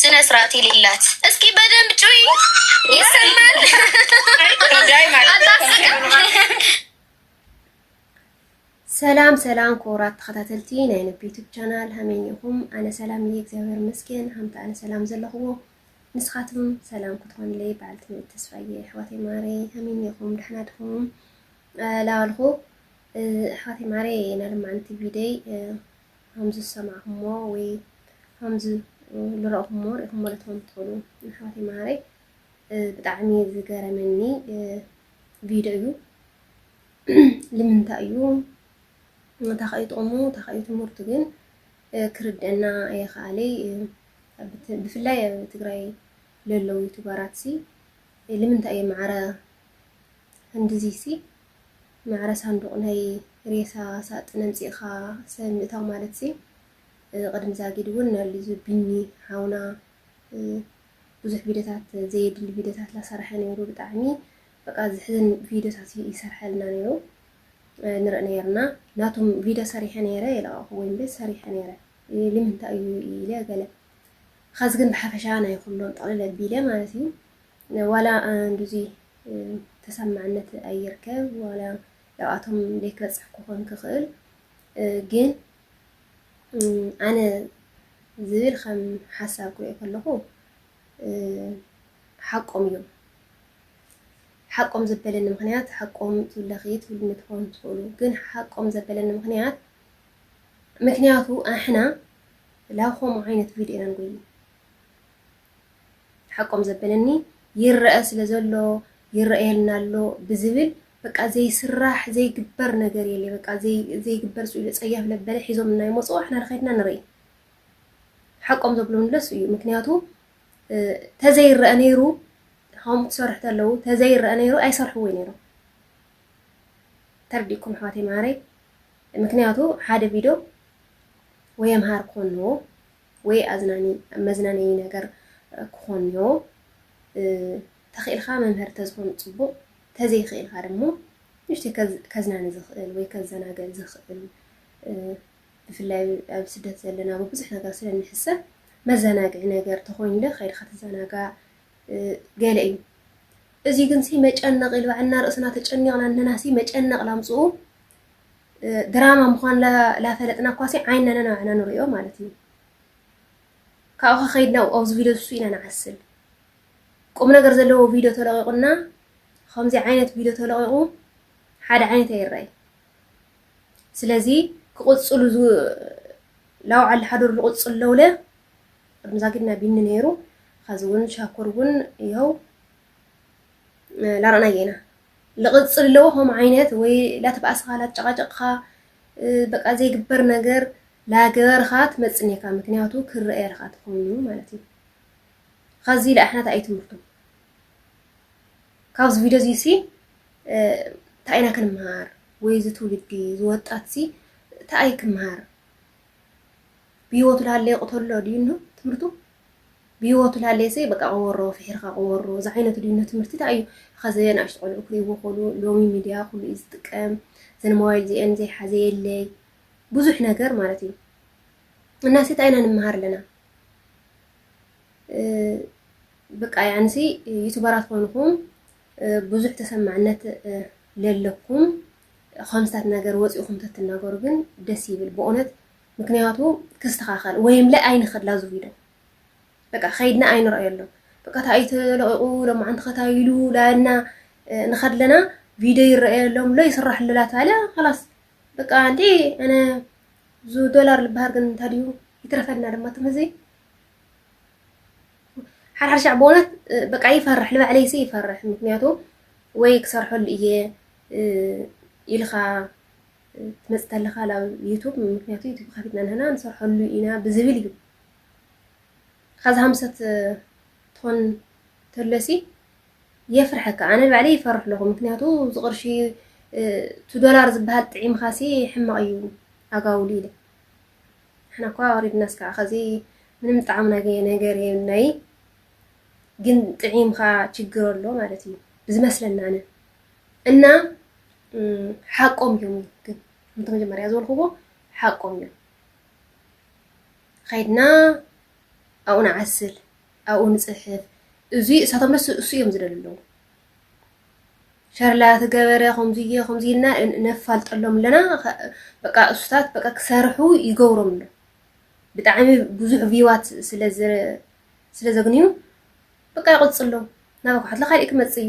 ስነ ስርዓት የሌላት እስኪ በደንብ ጩይ ይሰማል ሰላም ሰላም ክቡራት ተኸታተልቲ ናይ ነብ ዩቱብ ቻናል ሃመይ ኢኹም ኣነ ሰላም እየ እግዚኣብሔር ይመስገን ሃምቲ ኣነ ሰላም ዘለኹዎ ንስኻትኩም ሰላም ክትኾንለይ በዓል ትምህርቲ ተስፋ እየ ኣሕዋተይ ማረይ ሃመይ ኢኹም ደሕና ድኹም ላበልኹ ኣሕዋተይ ማረይ ናይ ልማዓንቲ ቪደይ ኸምዚ ዝሰማዕኹሞ ወይ ኸምዚ ልረእኹሞ ሪእኹሞ ልትኾኑ ትኽእሉ የሕዋተይ መሃረይ ብጣዕሚ ዝገረመኒ ቪድዮ እዩ ልምንታይ እዩ እንታይ እዩ ጥቕሙ እንታይ እዩ ትምህርቱ ግን ክርድአና የኸኣለይ ብፍላይ ኣብ ትግራይ ለለው ዩቱበራት ሲ ልምንታይ እዮም ማዕረ ክንድዚ ሲ ማዕረ ሳንዱቕ ናይ ሬሳ ሳጥን ኣምጺእኻ ሰብ ምእታው ማለትሲ ቅድሚ ዛጊድ እውን ናሉ እዚ ቢኒ ሓውና ብዙሕ ቪድዮታት ዘየድሊ ቪድዮታት ላሰርሐ ነይሩ ብጣዕሚ በቃ ዝሕዝን ቪድዮታት እዩ ይሰርሐልና ነይሩ ንርኢ ነይርና ናቱም ቪድዮ ሰሪሐ ነይረ የለቐኹ ወይም ቤት ሰሪሐ ነይረ ልምንታይ እዩ ኢለ ገለ ኸዚ ግን ብሓፈሻ ናይ ኩሎም ጠቕልል ኣቢለ ማለት እዩ ዋላ ንዙ ተሰማዕነት ኣይርከብ ዋላ ያብኣቶም ደይክበፅሕ ክኾን ክኽእል ግን ኣነ ዝብል ከም ሓሳብ ክሪኦ ከለኹ ሓቆም እዮም ሓቆም ዘበለኒ ምክንያት ሓቆም ትብለኺ ትብልኒ ትኾኑ ትኽእሉ ግን ሓቆም ዘበለኒ ምክንያት ምክንያቱ ኣሕና ላብ ከምኡ ዓይነት ቪድዮ ኢና ንጎይ ሓቆም ዘበለኒ ይረኣ ስለ ዘሎ ይረኣየልና ኣሎ ብዝብል በቃ ዘይስራሕ ዘይግበር ነገር የሌ በቃ ዘይግበር ጽኢሉ ጸያፍ ለበለ ሒዞም እናይመጹ ኣሕና ንኸድና ንርኢ ሓቆም ዘብሉንለስ እዩ ምክንያቱ ተዘይረኣ ነይሩ ሆም ክሰርሑ ተለዉ ተዘይረኣ ነይሩ ኣይሰርሕዎ ነይሩ ተርዲኩም ኣሕዋት የምሃረይ ምክንያቱ ሓደ ቪድዮ ወይ የምሃር ኮኑ ወይ ኣዝናኒ መዝናነዪ ነገር ክኾንዮ ተኺእልካ መምህር ተዝኾን ፅቡቕ ተዘይኽእልካ ደሞ ንእሽተይ ከዝናኒ ዝኽእል ወይ ከዘናግዕ ዝኽእል ብፍላይ ኣብ ስደት ዘለና ብብዙሕ ነገር ስለ ንሕሰብ መዘናግዒ ነገር ተኾይኑ ዶ ከይድካ ትዘናጋዕ ገለ እዩ እዚ ግን ሲ መጨነቕ ኢሉ ባዕልና ርእስና ተጨኒቕና እነናሲ መጨነቕ ላምፅኡ ድራማ ምዃን ላፈለጥና እኳሲ ዓይንና ነናባዕና ንሪኦ ማለት እዩ ካብኡ ከኸይድና ኣብዚ ቪድዮ ዝሱ ኢና ንዓስል ቁም ነገር ዘለዎ ቪድዮ ተለቂቑና ከምዚ ዓይነት ቪድዮ ተለቂቑ ሓደ ዓይነት ኣይረኣይ ስለዚ ክቕፅሉ ላውዓል ሓዶር ዝቕፅል ለውለ ቅድሚ ዛጊድና ቢኒ ነይሩ ኸዚ እውን ሻኩር እውን ይኸው ላረኣናዮ ኢና ልቕፅል ኣለዎ ከምኡ ዓይነት ወይ ላተባእስኻ ላተጨቓጨቕኻ በቃ ዘይግበር ነገር ላገበርኻ ትመፅእ ኔርካ ምክንያቱ ክረኣየልካ ተኾይኑ ማለት እዩ ካብዚ ኢለ ኣሕናት ኣይ ትምህርቱ ካብዚ ቪድዮ እዚ ሲ እንታይ ኢና ክንምሃር ወይ እዚ ትውልዲ እዚ ወጣት ሲ እንታይ ክምሃር ብሂወቱ ላሃለየ ቅተሎ ድዩ እንሆ ትምህርቱ ብሂወቱ ልሃለየሰ በቃ ቆወሮ ፍሒርካ ቆወሮ ዝዓይነቱ ድዩ እነ ትምህርቲ ታይ እዩ ኸዘ ናእሽቱ ቆልዑ ክሪእዎ ኮሉ ሎሚ ሚድያ ኩሉ እዩ ዝጥቀም ዘን ሞባይል ዚኤን ዘይሓዘ የለይ ብዙሕ ነገር ማለት እዩ እናሰ ታይ ኢና ንምሃር ኣለና በቃ ያንሲ ዩቱበራት ኮንኩም ብዙሕ ተሰማዕነት ለለኩም ከምስታት ነገር ወፂእኩም ተትናገሩ ግን ደስ ይብል ብእውነት ምክንያቱ ክስተኻኸል ወይ እምለ ኣይንኸድ ላዙ ቪዶ በቃ ከይድና ኣይንረኣየሉ በቃ ታይት ለቂቑ ሎማዓንቲ ከታይሉ ላና ንኸድለና ቪዲዮ ይረኣየሎም ሎ ይስራሕሉ ላታለ ኸላስ በቃ ኣንቲ ኣነ ዙ ዶላር ልበሃር ግን እንታይ ድዩ ይትረፈልና ድማ ትም እዚ ሓድሓድ ሻዕ ብእውነት በቃ ይፈርሕ ንባዕለይ ሲ ይፈርሕ ምክንያቱ ወይ ክሰርሐሉ እየ ኢልካ ክትመጽእ ተለኻ ናብ ዩቱብ ምክንያቱ ዩቱብ ከፊትና ንህና ንሰርሐሉ ኢና ብዝብል እዩ ኻዚ ሃምሰት ትኾን ተለሲ የፍርሐካ ኣነ ባዕለ ይፈርሕ ኣለኹ ምክንያቱ ዝቕርሺ እቲ ዶላር ዝበሃል ጥዒምኻሲ ሕማቕ እዩ ኣጋውሉ ኢለ ንሕና እኳ ወሪድናስ ከዓ ኸዚ ምንም ጣዕሚ ናገየ ነገር የብልናይ ግን ጥዒምኻ ችግር ኣሎ ማለት እዩ ብዝመስለና ኣነ እና ሓቆም እዮም ግን ከምቲ መጀመርያ ዝበልክዎ ሓቆም እዮም ኸይድና ኣብኡ ንዓስል ኣብኡ ንፅሕፍ እዚ እሳቶም ደስ እሱ እዮም ዝደል ኣለዉ ሸርላ ትገበረ ከምዝየ ከምዙይ ኢልና ነፋልጠሎም ኣለና በቃ እሱታት በቃ ክሰርሑ ይገብሮም ኣሎ ብጣዕሚ ብዙሕ ቪዋት ስለ ዘግንዩ በቃ ይቕፅሎም ናባኳሓትለ ካልእ ክመፅ እዩ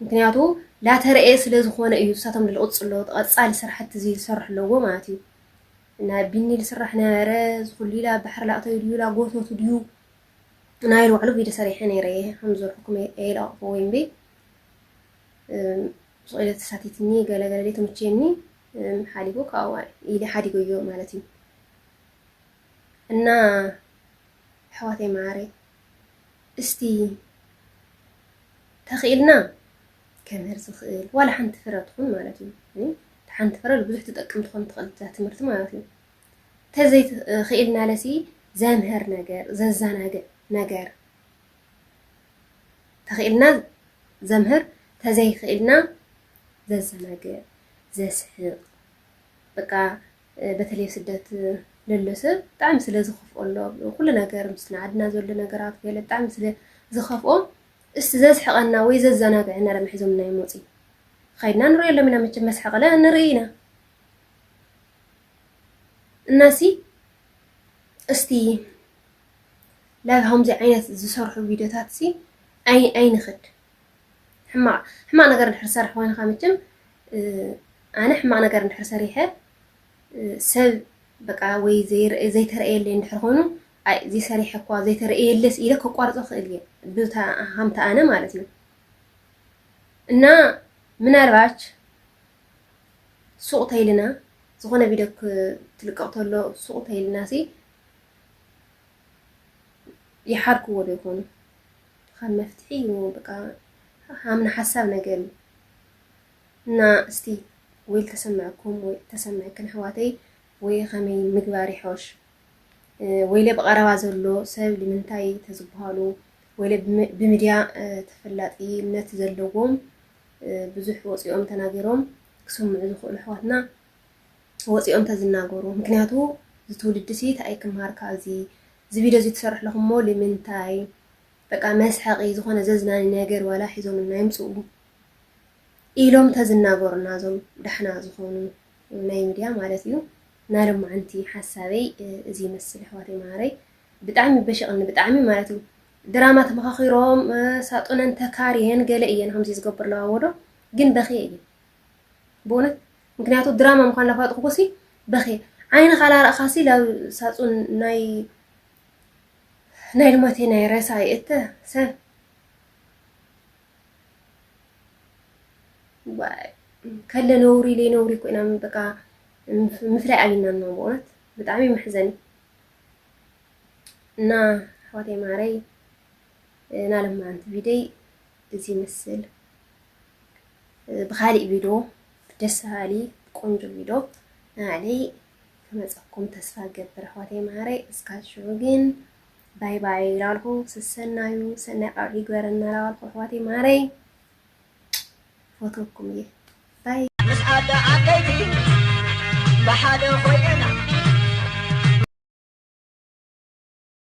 ምክንያቱ ላተረኤ ስለ ዝኾነ እዩ ንሳቶም ዝቕጽሎ ተቐጻሊ ስራሕቲ እዚ ዝሰርሑ ኣለዎ ማለት እዩ እና ቢኒ ዝስራሕ ነበረ ዝኹሉ ኢላ ባሕሪ ላእተዩ ድዩ ላጎተቱ ድዩ ናይ ልባዕሉ ቪድዮ ሰሪሐ ነይረ እየ ከም ዝርሕኩም የለቕፎ ወይም ቤ ስኢለ ተሳቲትኒ ገለገለ ደይ ተምቼኒ ሓዲጎ ካብዋ ኢሊ ሓዲጎዮ ማለት እዩ እና ኣሕዋተይ መዓረይ እስቲ ተኽኢልና ከምህር ዝኽእል ዋላ ሓንቲ ፍረ ትኹን ማለት እዩ እቲ ሓንቲ ፍረ ብዙሕ ትጠቅም ትኾን ትኽእል እዛ ትምህርቲ ማለት እዩ ተዘይክኢልና ለሲ ዘምህር ነገር ዘዘናግዕ ነገር ተኽኢልና ዘምህር ተዘይክኢልና ዘዘናግዕ ዘስሕቕ በቃ በተለይ ኣብ ስደት ለሎ ሰብ ብጣዕሚ ስለ ዝኽፍኦ ኣሎ ኩሉ ነገር ምስ ንዓድና ዘሎ ነገራት ገለ ብጣዕሚ ስለ ዝኸፍኦ እስቲ ዘስሕቐና ወይ ዘዘናግዐና ደማ ሒዞምና እዮም ወፂ ኸይድና ንሪኦሎም ኢና መቸም መስሓቕለ ንርኢ ኢና እናሲ እስቲ ላብ ከምዚ ዓይነት ዝሰርሑ ቪድዮታት ሲ ኣይ ኣይንኽድ ሕማቅ ሕማቅ ነገር እንድሕር ዝሰርሕ ኮይንካ መቸም ኣነ ሕማቅ ነገር እንድሕር ሰሪሐ ሰብ በቃ ወይ ዘይተረእየለይ እንድሕር ኮይኑ ኣይ እዚ ሰሪሐ እኳ ዘይተረእየለስ ኢለ ከቋርጾ ክእል እየ ብታ ሃምታ ኣነ ማለት እዩ እና ምናልባች ሱቅ ተይልና ዝኾነ ቪድዮ ክትልቀቕ ተሎ ሱቅ ተይልና ሲ ይሓርክዎ ዶ ይኾኑ ከም መፍትሒ እዩ በቃ ሃምና ሓሳብ ነገር እዩ እና እስቲ ወይ ተሰምዕኩም ወይ ተሰምዕክን ኣሕዋተይ ወይ ከመይ ምግባር ይሖሽ ወይለ ብቐረባ ዘሎ ሰብ ንምንታይ ተዝበሃሉ ወይለ ብምድያ ተፈላጢነት ዘለዎም ብዙሕ ወፂኦም ተናገሮም ክሰምዑ ዝኽእሉ ኣሕዋትና ወፂኦም ተዝናገሩ ምክንያቱ ዝትውልድሲ እንታይ ክምሃር ካብዚ እዚ ቪድዮ እዚ ትሰርሑ ኣለኹም እሞ ልምንታይ በቃ መስሐቒ ዝኾነ ዘዝናኒ ነገር ዋላ ሒዞምልና ይምጽኡ ኢሎም ተዝናገሩና እዞም ዳሕና ዝኾኑ ናይ ሚድያ ማለት እዩ እና ልማዓንቲ ሓሳበይ እዚ ይመስል ኣሕዋተይ መሃረይ ብጣዕሚ በሸቕኒ ብጣዕሚ ማለት እዩ ድራማ ተመኻኺሮም ሳጡነን ተካርየን ገለ እየን ከምዚ ዝገብርለዋ ወዶ ግን በኽየ እየ ብእውነት ምክንያቱ ድራማ ምኳኑ ላፋልጥኩኩሲ በክየ ዓይንካ ላረእካሲ ላብ ሳጹን ናይ ናይ ልማቴ ናይ ረሳ ይእተ ሰብ ከለ ነውሪ ለይ ነውሪ ኮይና በቃ ምፍላይ ኣቢናና በእውነት ብጣዕሚ መሕዘኒ እና ኣሕዋተይ ማረይ ናለማዓንቲ ቪደይ እዚ ይመስል ብካሊእ ቪዶ ደስ በሃሊ ቆንጆ ቪዶ ናባዕለይ ክመፀኩም ተስፋ ይገብር ኣሕዋተይ መሃረይ እስካብ ሽዑ ግን ባይ ባይ ላልኩ ስሰናዩ ሰናይ ቃልዑ ይግበረና ላልኩ ኣሕዋተይ መሃረይ ፈትወኩም እየ ባይ ምስ ኣደ ዓበይቲ ብሓደ ኮይነና